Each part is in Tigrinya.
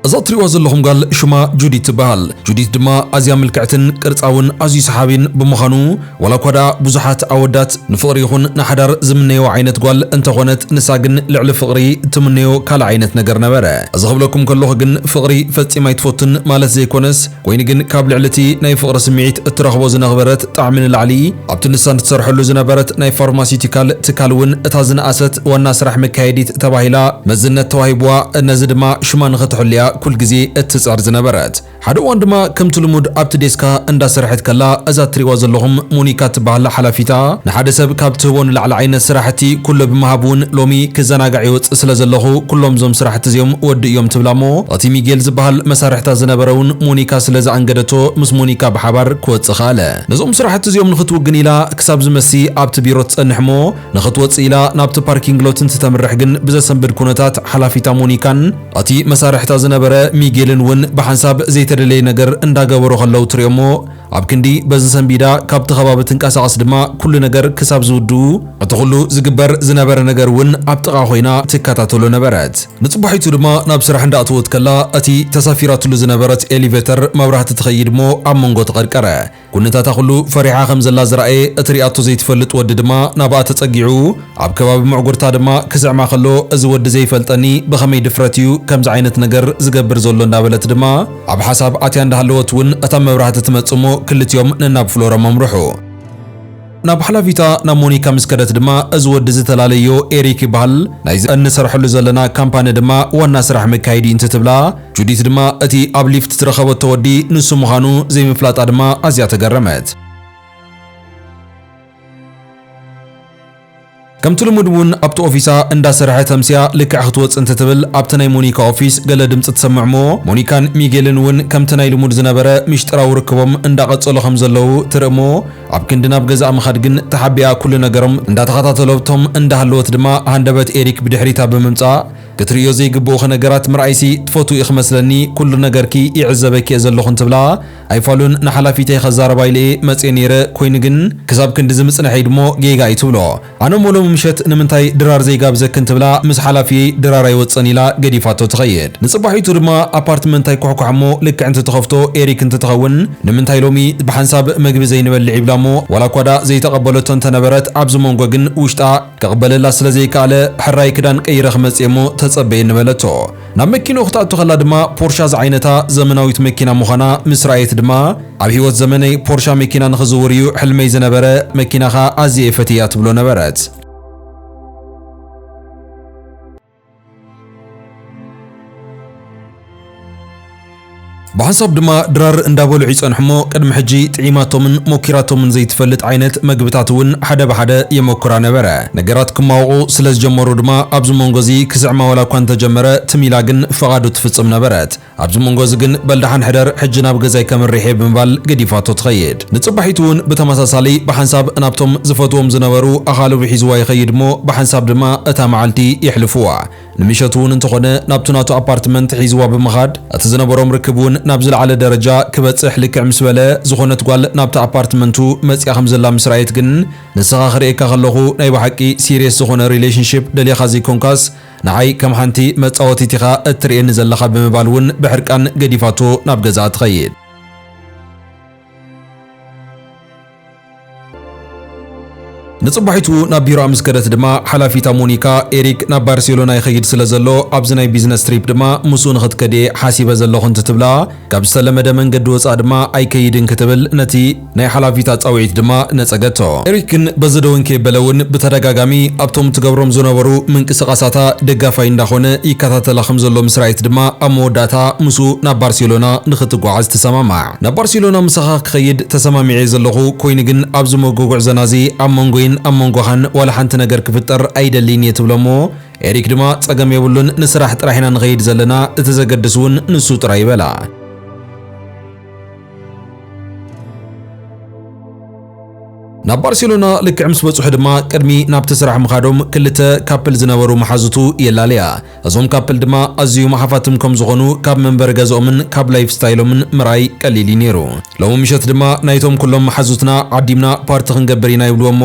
እዛ እትሪእዋ ዘለኹም ጋል ሽማ ጁዲት ትበሃል። ጁዲት ድማ ኣዝያ ምልክዕትን ቅርጻ እውን ኣዝዩ ሰሓቢን ብምዃኑ ዋላ እኳ ደኣ ብዙሓት ኣወዳት ንፍቕሪ ይኹን ንሓዳር ዝምነይዎ ዓይነት ጓል እንተኾነት ንሳ ግን ልዕሊ ፍቕሪ እትምነዮ ካልእ ዓይነት ነገር ነበረ። እዚ ክብለኩም ከለኹ ግን ፍቕሪ ፈጺማ ኣይትፈቱን ማለት ዘይኮነስ ኮይኑ ግን ካብ ልዕሊ እቲ ናይ ፍቕሪ ስምዒት እትረኽቦ ዝነኽበረት ጣዕሚ ንላዕሊ ኣብቲ ንሳ ንትሰርሐሉ ዝነበረት ናይ ፋርማሲቲካል ትካል እውን እታ ዝነኣሰት ዋና ስራሕ መካየዲት ተባሂላ መዝነት ተዋሂቡዋ ነዚ ድማ ሽማ ንኽትሕሉ'ያ ኩል ግዜ እትጽዕር ዝነበረት። ሓደ እዋን ድማ ከምቲ ልሙድ ኣብቲ ዴስካ እንዳሰርሐት ከላ እዛ እትሪእዋ ዘለኹም ሞኒካ እትበሃል ሓላፊታ ንሓደ ሰብ ካብ ትህቦ ንላዕሊ ዓይነት ስራሕቲ ኩሉ ብምሃብ እውን ሎሚ ክዘናጋዕ ይወጽእ ስለ ዘለኹ ኩሎም እዞም ስራሕቲ እዚኦም ወድእዮም ትብላ እሞ እቲ ሚጌል ዝበሃል መሳርሕታ ዝነበረ እውን ሞኒካ ስለ ዘኣንገደቶ ምስ ሞኒካ ብሓባር ክወጽእ ከኣለ። ነዞም ስራሕቲ እዚኦም ንኽትውግን ኢላ ክሳብ ዝመሲ ኣብቲ ቢሮ ትጸንሕ እሞ ንኽትወጽእ ኢላ ናብቲ ፓርኪንግ ሎት እንትተምርሕ ግን ብዘሰንብድ ኩነታት ሓላፊታ ሞኒካን እቲ መሳርሕታ ዝነበረ ሚጌልን እውን ብሓንሳብ ዘይተደለየ ነገር እንዳገበሩ ከለዉ ትሪኦሞ ኣብ ክንዲ በዚ ሰንቢዳ ካብቲ ከባቢ ትንቀሳቐስ ድማ ኩሉ ነገር ክሳብ ዝውድኡ እቲ ኩሉ ዝግበር ዝነበረ ነገር እውን ኣብ ጥቓ ኮይና ትከታተሎ ነበረት። ንጽባሒቱ ድማ ናብ ስራሕ እንዳእተወት ከላ እቲ ተሳፊራትሉ ዝነበረት ኤሊቨተር መብራህቲ ትኸይድ እሞ ኣብ መንጎ ተቐርቀረ። ኩነታታ ኩሉ ፈሪሓ ከም ዘላ ዝረኣየ እቲ ሪኣቶ ዘይትፈልጥ ወዲ ድማ ናብኣ ተጸጊዑ ኣብ ከባቢ ምዕጉርታ ድማ ክስዕማ ከሎ እዚ ወዲ ዘይፈልጠኒ ብኸመይ ድፍረት እዩ ከምዚ ዓይነት ነገር ዝገብር ዘሎ እንዳበለት ድማ ኣብ ሓሳብ ኣትያ እንዳሃለወት ውን እታ መብራህቲ ትመጽእ እሞ ክልቲኦም ነናብ ፍሎረም ኣምርሑ። ናብ ሓላፊታ ናብ ሞኒካ ምስ ከደት ድማ እዚ ወዲ እዚ ተላለዮ ኤሪክ ይበሃል ናይዚ እንሰርሐሉ ዘለና ካምፓኒ ድማ ዋና ስራሕ መካየዲ እዩ እንትትብላ ጁዲት ድማ እቲ ኣብ ሊፍት ዝረኸበቶ ወዲ ንሱ ምዃኑ ዘይምፍላጣ ድማ ኣዝያ ተገረመት። ከምቲ ልሙድ እውን ኣብቲ ኦፊሳ እንዳ ሰርሐት ኣምስያ ልክዕ ክትወጽእ እንትትብል ኣብቲ ናይ ሞኒካ ኦፊስ ገለ ድምጺ ትሰምዕ እሞ ሞኒካን ሚጌልን እውን ከምቲ ናይ ልሙድ ዝነበረ ሚሽጥራዊ ርክቦም እንዳ ቀጸሉ ከም ዘለዉ ትርኢ እሞ ኣብ ክንዲ ናብ ገዛኣ ምኻድ ግን ተሓቢኣ ኩሉ ነገሮም እንዳ ተኸታተሎብቶም እንዳ ሃለወት ድማ ሃንደበት ኤሪክ ብድሕሪታ ብምምጻእ ክትርእዮ ዘይግብኡኺ ነገራት ምርኣይሲ ትፈትዊ ኢኺ መስለኒ ኩሉ ነገርኪ ይዕዘበኪ እየ ዘለኹ እንትብላ ኣይፋሉን ንሓላፊተይ ከዛረባ ኢለ እየ መጽየ ነይረ ኮይኑ ግን ክሳብ ክንድዚ ምጽንሐይ ድሞ ጌጋ እዩ ትብሎ ኣነ እሞ ሎሚ ምሸት ንምንታይ ድራር ዘይጋብዘክን ትብላ ምስ ሓላፊየይ ድራር ኣይወጽእን ኢላ ገዲፋቶ ትኸይድ ንጽባሒቱ ድማ ኣፓርትመንት ኣይኩሕኳሕ እሞ ልክዕ እንትትኸፍቶ ኤሪክ እንትትኸውን ንምንታይ ሎሚ ብሓንሳብ መግቢ ዘይንበልዕ ይብላ እሞ ዋላ እኳ ድኣ ዘይተቀበለቶ እንተነበረት ኣብዚ ሞንጎ ግን ውሽጣ ክቅበለላ ስለ ዘይከኣለ ሕራይ ክዳን ቀይረ ክመጽእ እየ እሞ ተጸበየኒ በለቶ ናብ መኪንኡ ክትኣቱ ከላ ድማ ፖርሻ ዝዓይነታ ዘመናዊት መኪና ምዃና ምስ ረኣየት ድማ ኣብ ህይወት ዘመነይ ፖርሻ መኪና ንኽዝውር እዩ ሕልመይ ዝነበረ፣ መኪናኻ ኣዝየ እፈትያ ትብሎ ነበረት። ብሓንሳብ ድማ ድራር እንዳበልዑ ይጸንሑሞ ቅድሚ ሕጂ ጥዒማቶምን ሞኪራቶምን ዘይትፈልጥ ዓይነት መግብታት እውን ሓደ ብሓደ የመኩራ ነበረ። ነገራት ክማወቑ ስለ ዝጀመሩ ድማ ኣብዚ መንጎ እዚ ክስዕማ ዋላ እኳ እንተጀመረ ትም ኢላ ግን ፈቓዱ ትፍጽም ነበረት። ኣብዚ መንጎ እዚ ግን በል ደሓን ሕደር ሕጂ ናብ ገዛይ ከምርሕ እየ ብምባል ገዲፋቶ ትኸይድ። ንጽባሒቱ እውን ብተመሳሳሊ ብሓንሳብ ናብቶም ዝፈትዎም ዝነበሩ ኣኻልቡ ሒዝዋ ይኸይድ እሞ ብሓንሳብ ድማ እታ መዓልቲ የሕልፉዋ። ንምሸቱ እውን እንተኾነ ናብቱ ናቱ ኣፓርትመንት ሒዝዋ ብምኻድ እቲ ዝነበሮም ርክብ እውን ናብ ዝለዓለ ደረጃ ክበፅሕ ልክዕ ምስ በለ ዝኾነት ጓል ናብቲ ኣፓርትመንቱ መፂኣ ከም ዘላ ምስ ረኣየት ግን ንስኻ ክርእየካ ከለኹ ናይ ብሓቂ ሲሪየስ ዝኾነ ሪሌሽንሺፕ ደሊኻ ዘይኮንካስ ንዓይ ከም ሓንቲ መፃወቲት ኢኻ እትርእየኒ ዘለኻ ብምባል እውን ብሕርቃን ገዲፋቶ ናብ ገዝኣ ትኸይድ። ንጽባሒቱ ናብ ቢሮኣ ምስ ከደት ድማ ሓላፊታ ሞኒካ፣ ኤሪክ ናብ ባርሴሎና ይኸይድ ስለ ዘሎ ኣብዚ ናይ ቢዝነስ ትሪፕ ድማ ምስኡ ንኽትከድ እየ ሓሲበ ዘለኹ እንትትብላ፣ ካብ ዝተለመደ መንገዲ ወጻእ ድማ ኣይከይድን ክትብል ነቲ ናይ ሓላፊታ ጻውዒት ድማ ነጸገቶ። ኤሪክ ግን በዚ ደወን ከየበለ እውን ብተደጋጋሚ ኣብቶም ትገብሮም ዝነበሩ ምንቅስቓሳታ ደጋፋይ እንዳኾነ ይከታተላ ከም ዘሎ ምስ ረኣየት ድማ ኣብ መወዳእታ ምስኡ ናብ ባርሴሎና ንኽትጓዓዝ ትሰማማዕ። ናብ ባርሴሎና ምሳኻ ክኸይድ ተሰማሚዐ'የ ዘለኹ፣ ኰይኑ ግን ኣብዚ ሞጎ ጕዕዞና'ዚ ኣብ መንጐይን ኣብ መንጐኻን ዋላ ሓንቲ ነገር ክፍጠር ኣይደልይን እየ ትብሎ'ሞ፣ ኤሪክ ድማ ጸገም የብሉን ንስራሕ ጥራሕ ኢና ንኸይድ ዘለና፣ እቲ ዘገድስ'ውን ንሱ ጥራይ'ዩ በላ። ናብ ባርሴሎና ልክዕ ምስ በጽሑ ድማ ቅድሚ ናብቲ ስራሕ ምኻዶም ክልተ ካፕል ዝነበሩ መሓዙቱ የላለያ። እዞም ካፕል ድማ ኣዝዩም ሓፋትም ከም ዝኾኑ ካብ መንበሪ ገዝኦምን ካብ ላይፍ ስታይሎምን ምርኣይ ቀሊል እዩ ነይሩ። ሎሚ ምሸት ድማ ናይቶም ኩሎም መሓዙትና ዓዲምና ፓርቲ ክንገብር ኢና ይብልዎ እሞ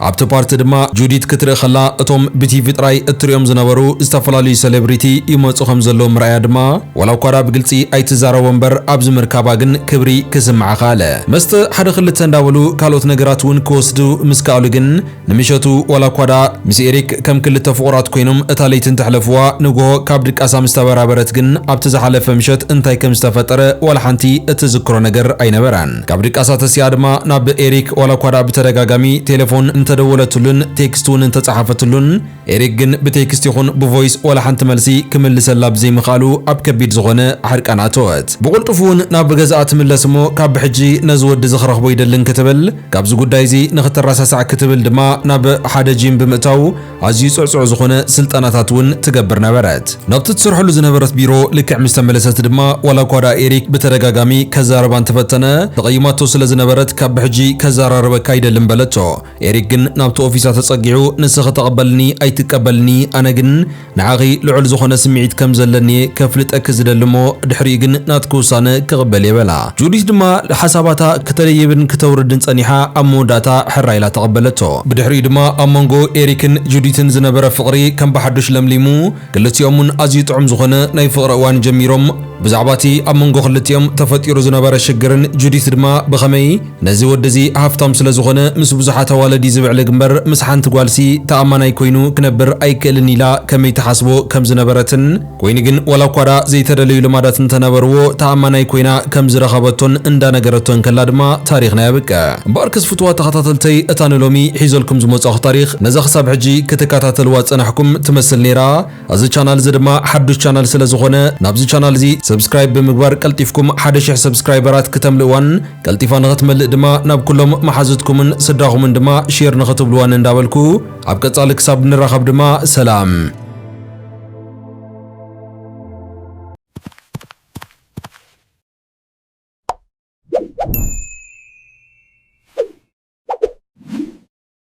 ኣብቲ ፓርቲ ድማ ጁዲት ክትርኢ ከላ እቶም ብቲቪ ጥራይ እትሪኦም ዝነበሩ ዝተፈላለዩ ሰሌብሪቲ ይመጹ ከም ዘለዉ ምርኣያ ድማ ዋላ እኳ ድኣ ብግልጺ ኣይትዛረቦ እምበር ኣብዚ ምርካባ ግን ክብሪ ክስምዓ ከኣለ። መስተ ሓደ ክልተ እንዳበሉ ካልኦት ነገራት እውን ክወስዱ ምስ ከኣሉ ግን ንምሸቱ ዋላ እኳ ደኣ ምስ ኤሪክ ከም ክልተ ፍቑራት ኰይኖም እታ ለይቲ እንተሕለፍዋ፣ ንግሆ ካብ ድቃሳ ምስ ተበራበረት ግን ኣብቲ ዝሓለፈ ምሸት እንታይ ከም ዝተፈጠረ ዋላ ሓንቲ እትዝክሮ ነገር ኣይነበራን። ካብ ድቃሳ ተሲኣ ድማ ናብ ኤሪክ ዋላ እኳ ደኣ ብተደጋጋሚ ቴለፎን እንተደወለትሉን ቴክስት'ውን እንተጸሓፈትሉን፣ ኤሪክ ግን ብቴክስት ይኹን ብቮይስ ዋላ ሓንቲ መልሲ ክምልሰላ ብዘይምኽኣሉ ኣብ ከቢድ ዝኾነ ሕርቃን ኣተወት። ብቕልጡፍ እውን ናብ ገዝኣ ትምለስ እሞ ካብ ብሕጂ ነዚ ወዲ እዚ ክረኽቦ ይደሊ እንክትብል ካብዚ ጉዳይ እዚ ንክትረሳሳዕ ክትብል ድማ ናብ ሓደ ጂም ብምእታው ኣዝዩ ጽዕጹዕ ዝኾነ ስልጠናታት እውን ትገብር ነበረት። ናብቲ ትሰርሐሉ ዝነበረት ቢሮ ልክዕ ምስ ተመለሰት ድማ ዋላ እኳ ደኣ ኤሪክ ብተደጋጋሚ ከዛርባ እንተፈተነ ተቐይማቶ ስለ ዝነበረት ካብ ብሕጂ ከዘራርበካ ኣይደልን በለቶ። ኤሪክ ግን ናብቲ ኦፊሳ ተጸጊዑ፣ ንስኺ ተቐበልኒ ኣይትቀበልኒ፣ ኣነ ግን ንዓኺ ልዑል ዝኾነ ስምዒት ከም ዘለኒ'የ ከፍልጠኪ ዝደሊ እሞ፣ ድሕሪኡ ግን ናትኪ ውሳነ ክቕበል'የ በላ። ጁዲት ድማ ሓሳባታ ክተደይብን ክተውርድን ጸኒሓ ኣብ መወዳእታ ሕራይ ኢላ ተቐበለቶ። ብድሕሪኡ ድማ ኣብ መንጎ ኤሪክን ጁዲትን ዝነበረ ፍቕሪ ከም ብሓዱሽ ለምሊሙ፣ ክልቲኦም'ውን ኣዝዩ ጥዑም ዝኾነ ናይ ፍቕሪ እዋን ጀሚሮም። ብዛዕባ'ቲ ኣብ መንጎ ክልቲኦም ተፈጢሩ ዝነበረ ሽግርን ጁዲት ድማ ብኸመይ፣ ነዚ ወዲ እዚ ሃፍታም ስለ ዝኾነ ምስ ብዙሓት ኣዋልድ እዩ ዝብዕልግ እምበር ምስ ሓንቲ ጓልሲ ተኣማናይ ኮይኑ ክነብር ኣይክእልን ኢላ ከመይ ትሓስቦ ከም ዝነበረትን ኮይኑ ግን ዋላ እኳ ደኣ ዘይተደለዩ ልማዳት እንተነበርዎ ተኣማናይ ኮይና ከም ዝረኸበቶን እንዳ ነገረቶ እንከላ ድማ ታሪኽና የብቅዕ። እምበኣርከስ ፍቱዋት ተኸታተልተይ እታ ንሎሚ ሒዘልኩም ዝመጻኹ ታሪኽ ነዛ ክሳብ ሕጂ ክትከታተልዋ ዝጸናሕኩም ትመስል ነይራ። እዚ ቻናል እዚ ድማ ሓዱሽ ቻናል ስለ ዝኾነ ናብዚ ቻናል እዚ ሰብስክራይብ ብምግባር ቀልጢፍኩም ሓደ ሽሕ ሰብስክራይበራት ክተምልእዋን ቀልጢፋ ንኽትመልእ ድማ ናብ ኩሎም መሓዙትኩምን ስድራኹምን ድማ ሼር ንኽትብልዋን እንዳበልኩ ኣብ ቀጻሊ ክሳብ ንራኸብ ድማ ሰላም